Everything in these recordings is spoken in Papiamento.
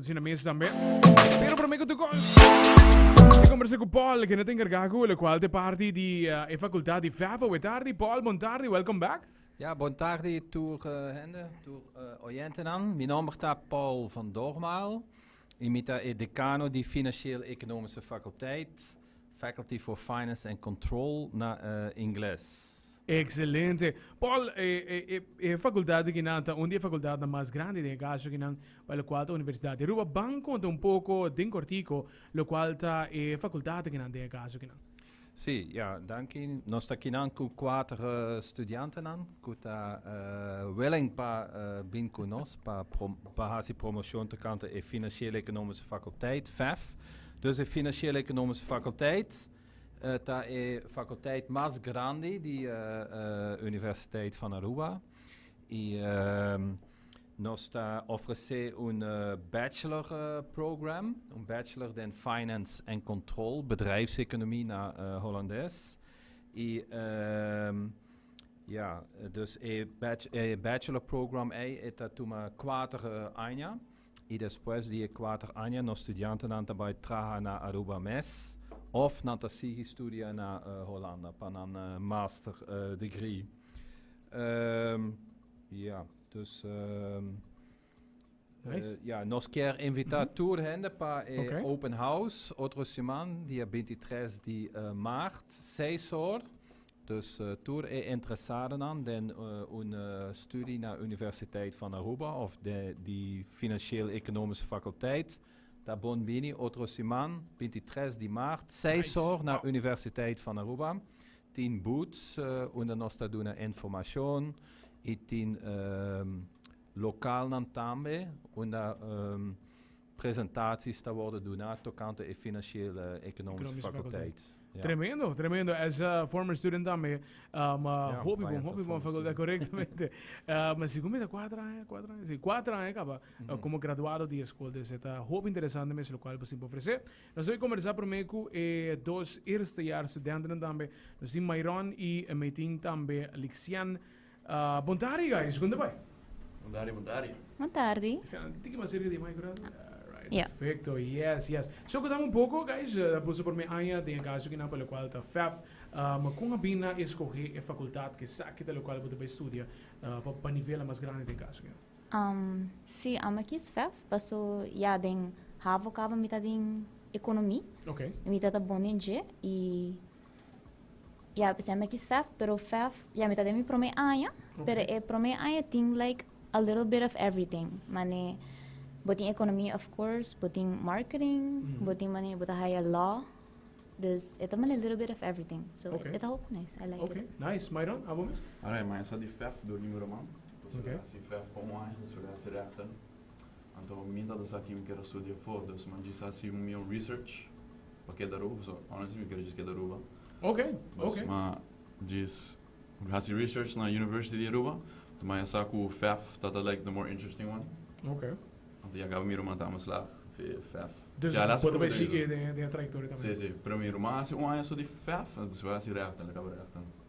Sin a mesa también. Pero por mí que tú Se conversé con Paul, que no te encarga con el cual te parte de uh, eh, facultad de FAFA. Buenas tardes, Paul. Buenas tardes. Welcome back. Ja, bon tardi tur uh, eh, hende, tur uh, eh, oyentenan. Mi nombre ta Paul van Dormaal. Imita e decano di Financieel Economische Faculteit. Faculty for Finance and Control na ingles. Excelente. Paul, e, e, e, e facultad de Kinan ta un de facultadnan mas grandi den e caso Kinan, pa lo cual ta Universidad de Aruba. Ban conta un poco, den cortico, lo cual ta e facultad de Kinan den e caso Kinan. Sí, ja, danki. Nos ta kinan ku kuater studiantenan ku ta uh, willing pa uh, bin ku nos pa, prom pa hasi promoshon tokante e Finansiële Ekonomische Fakulteit, FEF. Dus e Financiële Economische Faculteit ta e faculteit mas grandi di Universiteit van Aruba y nos ta ofrece un bachelor program, un bachelor den Finance en Control, Bedrijfseconomie na Holandes. Y ya, dus e bachelor program ei e ta tuma kuater aña. I despues di e kuater aña nos studiantenan ta bai traha na Aruba mes òf nan ta sigui studia na Holanda pa nan master degree. Ya, dus ya nos kier invitá tur hende pa e open house otro siman dia bintitres di maart seis or Dus tur e interesadonan den un studi na Universiteit van Aruba of di Financieel Economische Faculteit ta bon bini otro siman, binti tres di maart, seis or na Universiteit van Aruba. Tin booths unda nos ta duna informashon i tin lokalnan tambe unda. Presentaties ta wordo duna tocante e financieel e economische faculteit. Ja. Tremendo, tremendo. As a former student tambe, um, uh, ja, hopi bon, hopi bon facultad, correctamente. um, si comida cuatro años, cuatro años, si cuatro años acaba, uh, mm-hmm. eh, como graduado de escola, dus het hoop interessante mes lo cual possible ofrecer. Nos hoy conversar primer cu e eh, dos eerste jaar studenten tambe, nos in Myron y eh, meeting tambe Lixian. Bon tardi guys, kunda bai? Bon tardi, bon tardi. Bon tardi. Esnan tin ki mas serka di e micro nan. Alright, Ya. perfecto. Yes, yes. So, kudam un poco, guys. Ta por su prome aña den e caso kinan pa locual ta fef. Ma con a bin na escoge e facultad cu esaki ta locual bo ta bay studia pa pa nivelnan mas grandi den e caso kinan? Am, si, am a kies fef paso ya den havo caba mi ta den economi. Ok. Mi ta ta bon den dje y. Ya presenta ki svf pero svf ya mi ta den mi prome aña pero e prome aña tin like a little bit of everything mane bo tin economia of course bo tin marketing bo tin mane bo ta haya law dus e ta mane little bit of everything so e ta hopi nice I like it. Nice Myron abo mes? Alright maya sa di svf durmi mi roman ta studia svf pa un aña ta studia srepta Anto mi ta ta sa ki mi ker a studia for, dus ma djis hasi un mion research pa keda Aruba, pasobra honestly mi ker djis keda Aruba. Oke, Dus oke. ma djis hasi research na University di Aruba, anto ma ya sa ku FAF ta ta like the more interesting one. Oke. Anto ya kaba mi ruman ta amas lag fe FAF. Dus Ki ala bo ta bai sigue siprumenan. den den e trayectoria tambe. Si, si. Pero mi ruman hasi un aña so di FAF, despues hasi rèkta, el a kaba rèkta.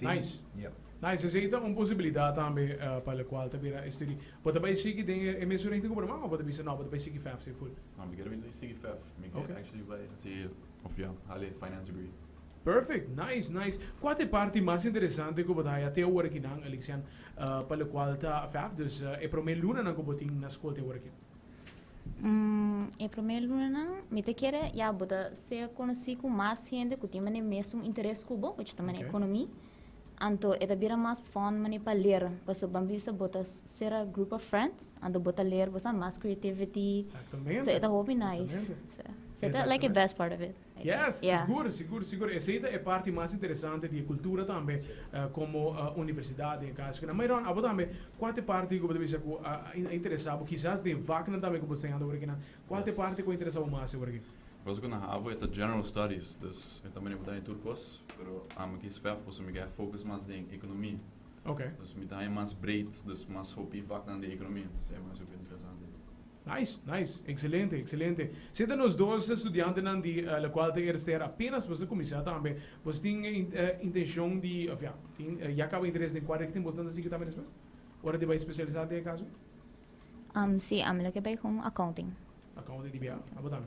Nice. Tin. Nice, esei ta un posibilidat tambe pa locual ta bira e studi. Bo ta bai sigui den e mesun richting cu bo ta wak of bo ta bisa no bo ta bai sigui fef asei full? No, mi kier bai sigui fef. Mi kier Okay. actually bai hasi of ya, hala e finance degree. Perfect, nice, nice. Cua ta e parti mas interesante cu bo ta haya te awor aki nan, Alixian, pa locual ta fef, dus e prome lunanan cu bo tin na scol te awor aki? E promé lunanan mi ta kere ya bo ta ser konosí ku mas hende ku tin mane mesun interes ku bo, ochi ta mane ekonomi. Anto e ta bira mas fòn mane pa ler. Paso bo a bisa bo ta ser a group of friends, anto bo ta ler bo sa mas creativity. So e ta hopi nice. So e ta like e best part of it. Yes, sigur, sigur, sigur. Esei ta e parti mas interesante di e kultura tambe komo universidat den e kas ku nan. Myron, abo tambe, kua ta e parti ku bo ta bisa ku a interesá bo? Kisas den vaknan tambe ku bo ta enseñando oregina, kua ta e parti ku a interesá bo mas oregin? Kos ku nan habo e ta general studies, dus e ta manera bo ta haña tur kos, pero amo a kis vèf pasobra mi ke haña fokus mas den ekonomia. Dus mi ta haña mas breed, dus mas hopi vaknan di ekonomia. Esei mas hopi interesante. Nice, nice. Excelente, excelente. Si ta nos dos studiantenan di la Cuarta ERS ter apenas boso cuminsá tambe, boso tin intencion di, of ya, tin, ya caba interes den cua richting boso tanda sigui tambe despues? Ora di bai specialisá den e caso? Um, si, ami lo ke bai con accounting. Accounting di bia? Abo tambe?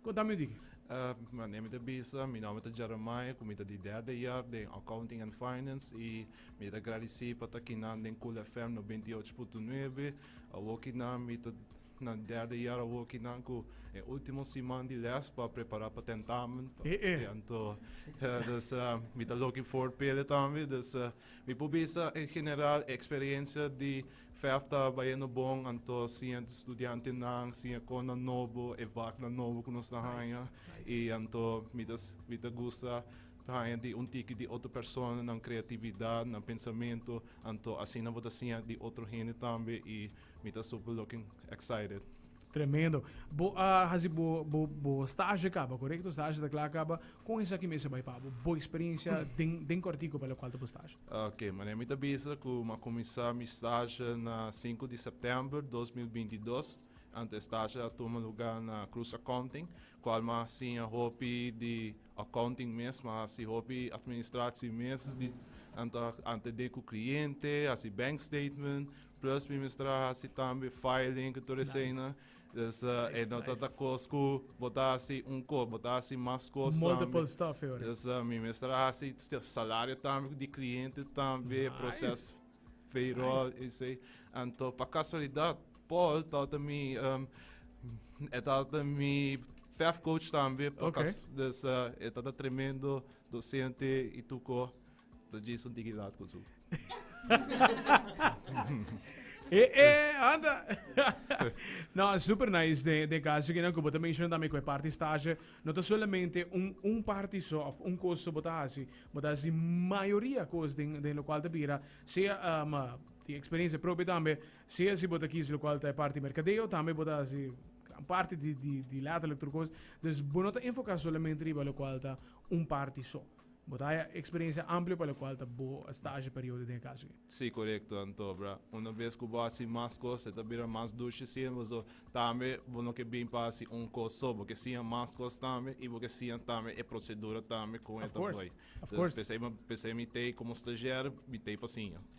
Ku ta mi di? Mane mi ta bisa, mi nòmber ta Jeremiah ku mi ta di derde yer den Accounting and Finance i mi ta gradisí pa ta kinan den Cool FM nobenta i ocho punto nuebe. Awor kinan mi ta na derde yer awor kinan ku e último siman di lès pa prepará pa tentamen. E e. Ya anto dus mi ta looking forward pa ele tambe. Dus mi por bisa en general e eksperensia di Vijf ta bayendo bon anto si e studiantenan si e konan nobo e vaknan nobo ku nos ta haña i anto mi ta mi ta gusta ta haña di un tiki di otro persona nan kreatividat nan pensamentu anto asina bo ta siña di otro hende tambe i mi ta super looking excited. Tremendo. Bo a haci bo, bo, bo stage caba, correcto? Stage ta klaar caba. Con esaki mester bay pa bo? Bo experiencia den, den cortico pa lo cual ta bo stage. Ok, manera mi ta bisa cu m'a cuminsa mi stage na sinku di september dos mil binti i dos. Anto e stage a tuma luga na Cruz Accounting, cual m'a siña hopi di accounting mes, m'a haci hopi administratie mes, di anto a antende cu cliente, haci bank statement, Plus mi mester a hasi tambe filing ku tur eseinan. Dus e no ta ta kos ku bo ta hasi un kos, bo ta hasi mas kos tambe. Multiple stuff e ora. Dus mi mester a hasi salario tambe di kliente tambe, proses payroll esei. Anto pa kasualidat Paul tabata mi e tabata mi fef coach tambe. Dus e ta tremendo dosente i tuko. Ta Jason tiki laat ku su. E e anda. no, super nice de de caso que no como te menciono también que parte estágio no te solamente un un parte so of un cosa so bota así, bota así mayoría cosas de de lo cual te bira sea um, die experiencia propia también, sea si bota kies lo cual te parte mercadeo también bota así gran parte di di di letterlijk trucos. Dus bo no te enfoca solamente riba lo cual ta un parte so. Bo ta haya eksperensia amplio pa lokual ta bo stage periodo den e kaso aki. Sí, korekto anto, bra. Una bes ku bo hasi mas kos, e ta bira mas dushi siember, so tambe bo no ke bin pa hasi un kos so, bo ke siña mas kos tambe i bo ke siña tambe e prosedura tambe kon e ta Of course, bay. of Entonces course. p'esei, p'esei mi t'ei komo stagiario, mi t'ei pa siña.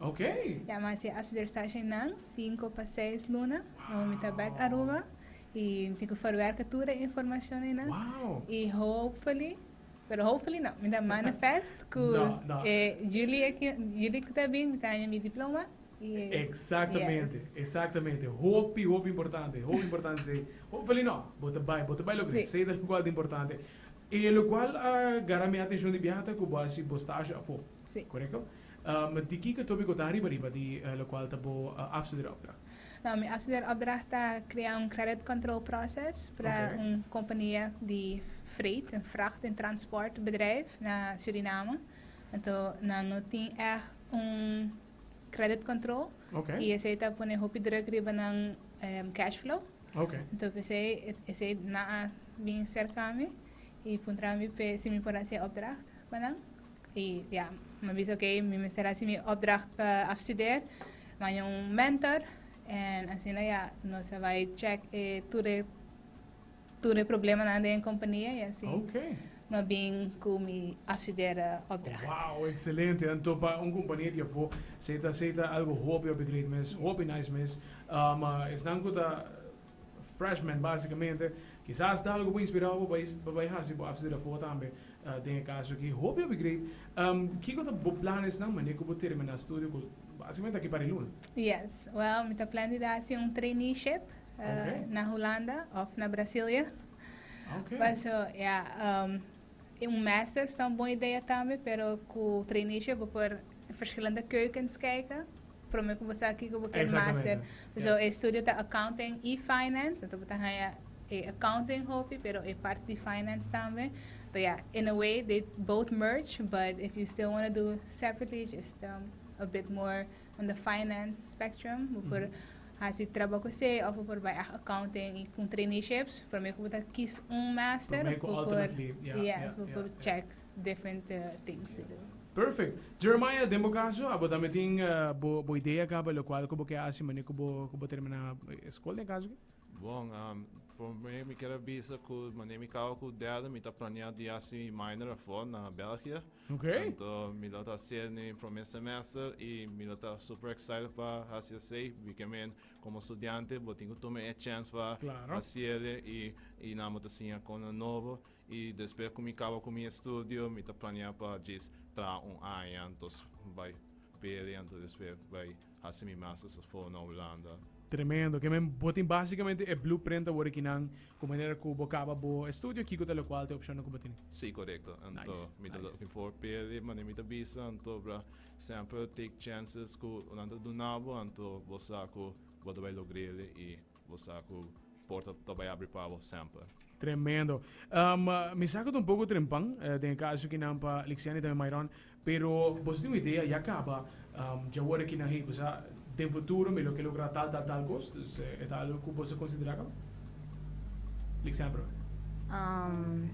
Okay. Ya mas e Assuderstagem nan cinco pa seis luna no mi ta back Aruba y mi tin cu verwerka tur e informacion ey nan y hopefully pero hopefully no mi ta manifest cu e juli aki juli cu ta bin mi ta haña mi diploma y Exactamente exactamente hopi hopi importante hopi importante esey hopefully no bo ta bay bo ta bay lo grij esey ta locual ta importante y locual a gara mi atencion di biaha ta cu bo a haci bo stage afo. Sí. Korekto? Ma di kiko Tobiko ta ariba riba di lokual ta bo afstudeeropdracht? No, mi afstudeeropdracht ta krea un credit control process para un kompania di freight, un vracht en transport bedrijf na Suriname. Anto nan no tin èg un credit control i esei ta pone hopi druk riba nan cash flow. Anto p'esei esei nan a bin serka mi i puntra mi si mi por hasi e opdracht pa nan. I ya, mi bisa oke, mi mester hasi mi opdracht pa afstuder, baña un mentor, en asina ya nos a bai check e tur e tur e problemanan den e kompania, i asin Oke. mi a bin ku mi afstudere opdracht. Wao, ekselente. Anto pa un kompania di afó sey ta sey ta algu hopi hopi great mes, hopi nice mes. Esnan ku ta Freshman básicamente kisas ta algo bo inspirá bo pa bai hasi bo after afó tambe den e caso aki hopi hopi great kiko ta bo planes nan manera ku bo terminá studio ku básicamente aki pari luna. Yes well mi ta plan di ta hasi un traineeship na Hulanda of na Brasilia paso ya. Un masters ta un bon idea tambe pero ku traineeship bo por verschillende keukens kijke. Prome ku bo sa kiko bo ker master. Exactamente. Yes. So e studio ta accounting i finance, enton bo ta haña e accounting hopi pero e part di finance tambe. So ya, in a way they both merge but if you still wanna do separately just a bit more on the finance spectrum bo por hasi traba ku esei of bo por bai ag accounting i ku traineeships promé ku bo ta kis un master Promé ku bo por ultimately, ya, ya, yes bo ya, por ya. check different uh, things to do Perfect. Jeremiah, den bo kaso, abo tambe tin eh, bo, bo idea kaba lo kual ku bo ke hasi manera ku bo, ku bo terminá eh, skol den kaso ke? Bon, um, promé mi ker a bisa ku manera mi kaba ku derde mi ta planea di hasi minor afo na Belgia. Okay. Tanto mi lo ta hacer ni primer semester y mi lo ta super excited pa haci esey, porque men como estudiante bo tin cu tuma e chance pa Claro. haciele y y nan bo ta siña cona nobo y despues cu mi caba cu mi estudio mi ta planea pa djis traha un aña, entonces bay pere, entonces despues bay Hasi mi mas esafó na Hulanda. Tremendo. Ke men bo tin básikamente e blueprint awor aki nan ku manera ku bo kaba bo estudio kiko ta lokual ta e opshonnan ku bo tene. Sí, korekto. Anto mi ta looking for per di manera mi ta bisa anto bra semper take chances ku nan ta duna bo anto bo sa ku bo ta bai logr'e i. Bo sa ku porta ta bai abri pa bo semper. Tremendo. Um, mi sa ku ta un poko trempan, eh, den e kaso ki nan pa Lixiani tambe Myron, pero boso tin un idea, ya kaba, um, dja worde ki nan hei, bosa den futuro mi lo ke logra tal, tal, tal kos, dus eh, e ta algo ku boso konsidera kaba? Liksempel, Um,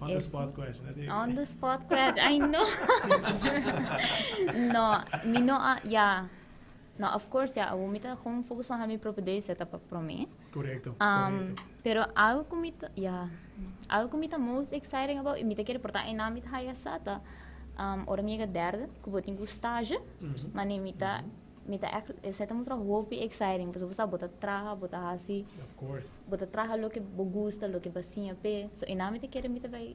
on the ese- spot question. dat e- On the spot kwet. Ay, no. no, mi no a, ya. No, of course ya, awo mi ta con focus van ha mi propio day set up pa prome. Correcto, correcto. Um, pero algo cu mi ta, ya, algo cu mi ta most exciting about, y mi ta quiere porta en mi ta haya sata, um, ora mi llega derde, cu bo tin cu stage, mm -hmm. mane mi ta, mm -hmm. mi ta, esa ta mustra hopi exciting, pues bosa bo ta traha, bo ta hasi, of course, bo ta traha lo que bo gusta, lo que bo siña pe, so en mi ta quiere mi ta bay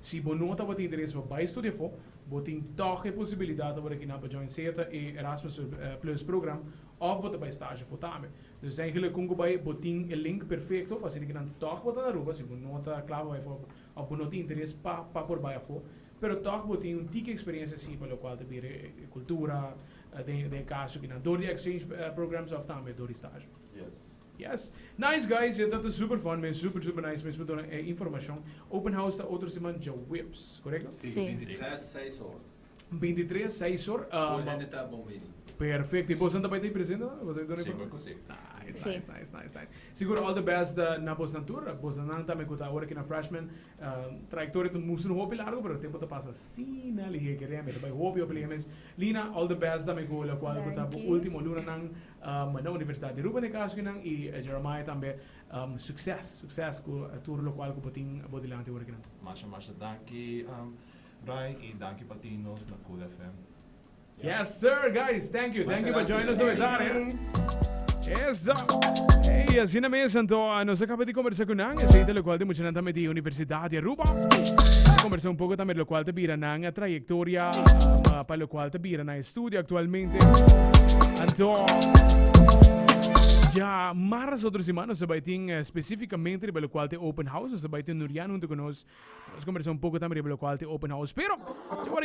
Si bo no tabata interesá pa bai studia afó, bo tin tòg e posibilidat ora ki nan pa join sea e Erasmus Plus program òf bo ta bai stage afó tambe. Nos dj'èngela kon ku bai, bo tin e link perfekto pa asina ki nan tòg bo ta na Aruba si bo no ta kla pa bai afó òf bo no tin interes pa pa por bai afó pero tòg bo tin un tiki eksperensia si pa lokual ta bira e kultura den den e kaso ki nan dor di exchange programs òf tambe dor di stage. Yes! Nice guys! Yo ta ta super fan men super super nice mes pa duna e informacion. Open house ta otro siman djaweps, correcto? Si, binti tres seis hor. Binti tres seis hor. Tur hende ta bon bini. Perfecto! Y bosnan ta bai ta y presente tambe? Bos ta y duna informa? Segur cu si. Nice nice nice nice nice. Sigur all the best na bosnan tur. Bosnan nan tambe cu ta awor aki na Freshman trayectoria ta musu un hopi largo pero tempo ta pasa asina lihe. Kere mi ta bai hopi hopi lihe mes. Lina all the best tambe cu locual cu ta bo ultimo lunanan. na Universitat di Aruba na e kaso kinan y Jeremiah tambe succes succes cu tur locual cu bo tin bo dilanti ora kinan. Masha masha danki Ray y danki pa tin nos na Cool FM. Yes sir guys thank you thank you pa join nos oe tarde eso ey asina mes anto nos a caba di conversa cu nan esey ta locual di muchanan tambe di Universidad di Aruba nos a conversa un poco tambe locual ta bira nan trayectoria pa locual ta bira nan Studio actualmente anto dja marzo otro semana nos ta bai tin specificamente riba locual t'e open house nos ta bai tenorian hunto cu nos pa nos conversa un poco tambe riba locual t'e open house pero dja awor aki